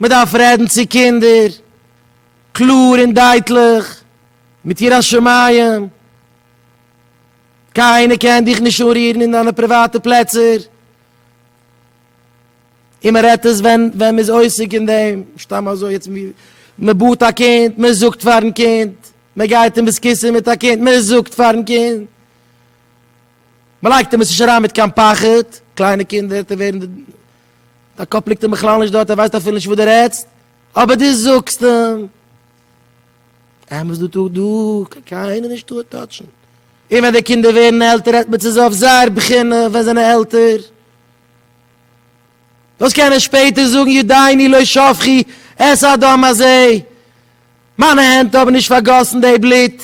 מען דארף רעדן צו קינדער קלאר און דייטליך מיט יראת שמים, קיינער קען דיך נישט אנרירן אין דיינע פריוואטע פלעצער, און מען רעדט עס ווען מען איז עוסק אין דעם, סתם אזוי יעצט ווי מען באדט א קינד, מען זאגט פארן קינד, מען גייט אין בית כיסא מיט א קינד, מען זאגט פארן קינד. מען לייגט אים עס נישט אריין מיט קיין פחד, קליינע קינדער וועט ער ווערן די קאפ ליגט אים בכלל נישט דארט ער ווייסט אפילו נישט וואס דו רעדסט, אבער דו זאגסט אים אמת דא טאג דא קען קיינער נישט דא טאטשן, און ווען די קינדער ווערן עלטער רעדט מען צו זיי אויף זייער בחינה ווען זיי זענען עלטער, דאס קען ער שפעטער זאגן ידיני לא שפכי את הדם הזה, מיינע הענט האבן נישט פארגאסן די בלוט,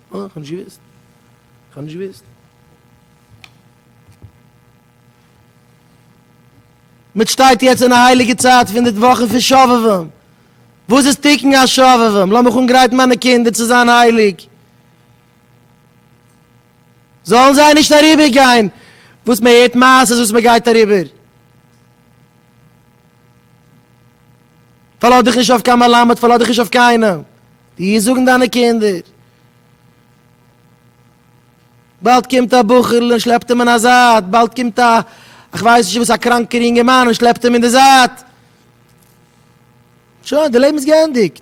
אה, כ'האב נישט געוואוסט. כ'האב נישט געוואוסט. מיט שטייט יעצט אין א הייליגע צייט פון די וואכן פון שובבים. וואס איז תיקון השובבים? לאמיך אנגרייטן מיינע קינדער צו זיין הייליג. זאלן זיי נישט אריבער גיין וואס מען הערט מעשות וואס מען גייט אריבער. פארלאז דיך נישט אויף קיין מלמד, פארלאז דיך נישט אויף קיינעם. די וועסט זאגן דיינע קינדער. באלד קומט א בחור'ל און שלעפט אים אין א זייט, באלד קומט א איך ווייס נישט וואס א קראנקער יונגערמאן און שלעפט אים אין די זייט. שוין, די לעבן איז געענדיגט.